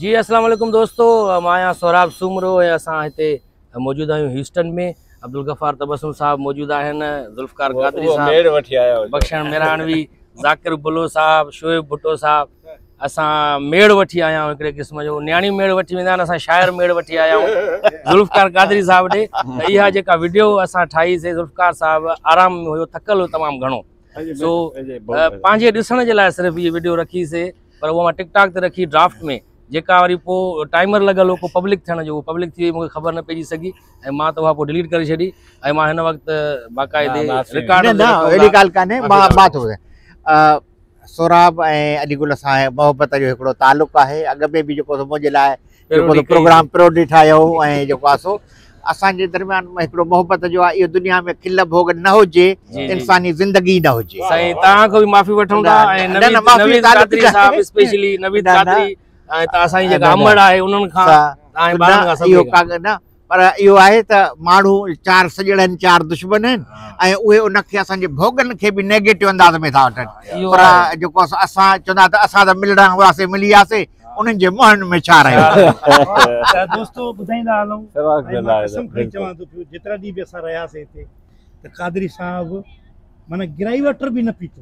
جي اسلام عليڪم دوستو مان آهيان سهراب سومرو ۽ اسان هتي موجود آهيون هيوسٽن ۾ عبدالغفار تبسم صاحب موجود آهن ذوالفقار قادري صاحب بخشڻ ميراڻوي ذاڪر بلو صاحب شعيب ڀٽو صاحب اسان ميڙ وٺي آيا آهيون هڪڙي قسم جو نياڻي ميڙ وٺي ويندا آهن اسان شاعر ميڙ وٺي آيا آهيون ذوالفقار قادري صاحب ڏي اها جيڪا ويڊيو اسان ٺاهي سي ذوالفقار صاحب آرام ۾ هيو ٿڪل هو تمام گهڻو سو پنهنجي ڏسڻ جي لاء صرف هي ويڊيو رکي سي پر اهو مان ٽڪ ٽاڪ تي رکي ڊرافٽ ۾ جيڪا وري پوء ٽائمر لڳل هو پوء پبلڪ ٿيڻ جو هو پبلڪ ٿي وئي مونکي خبر نه پئجي سگهي ۽ مان ته اها پوء ڊليٽ ڪري ڇڏي ۽ مان هن وقت باقاعدي رڪارڊ نه اهڙي ڳالهه ڪانهي مان مان ٿو ٻڌايان سهراب ۽ علي گل سان محبت جو هڪڙو تعلق آهي اڳ ۾ به جيڪو منهنجي لاء جيڪو پروگرام پروڊي ٺاهيو هو ۽ جيڪو آهي سو اسان جي درميان هڪڙو محبت جو آهي اهو دنيا ۾ کل ڀوڳ نه هجي انساني زندگي نه هجي سائين توهان کان به معافي وٺون ٿا ۽ نويد قادري صاحب اسپيشلي نويد قادري ۽ توهان سائين جيڪا امڙ آهي انهن کان ۽ ٻارن کان سڀني کان پر اهو آهي ته ماڻهو چار سڄڙ آهن چار دشمن آهن ۽ اهي ان کي اسان جي ڀوڳن کي به نيگيٽو انداز ۾ ٿا وٺن پر جيڪو اسان چوندا ته اسان ته ملڻا هئاسي ملي وياسي انهن جي منهن ۾ ڇا رهيو ته دوستو ٻڌائيندا هلون ۽ مان قسم کڻي چوان ٿو پيو جيترا ڏينهن به اسان رهياسي هتي ته قادري صاحب معنيٰ گرائي واٽر به نه پيتو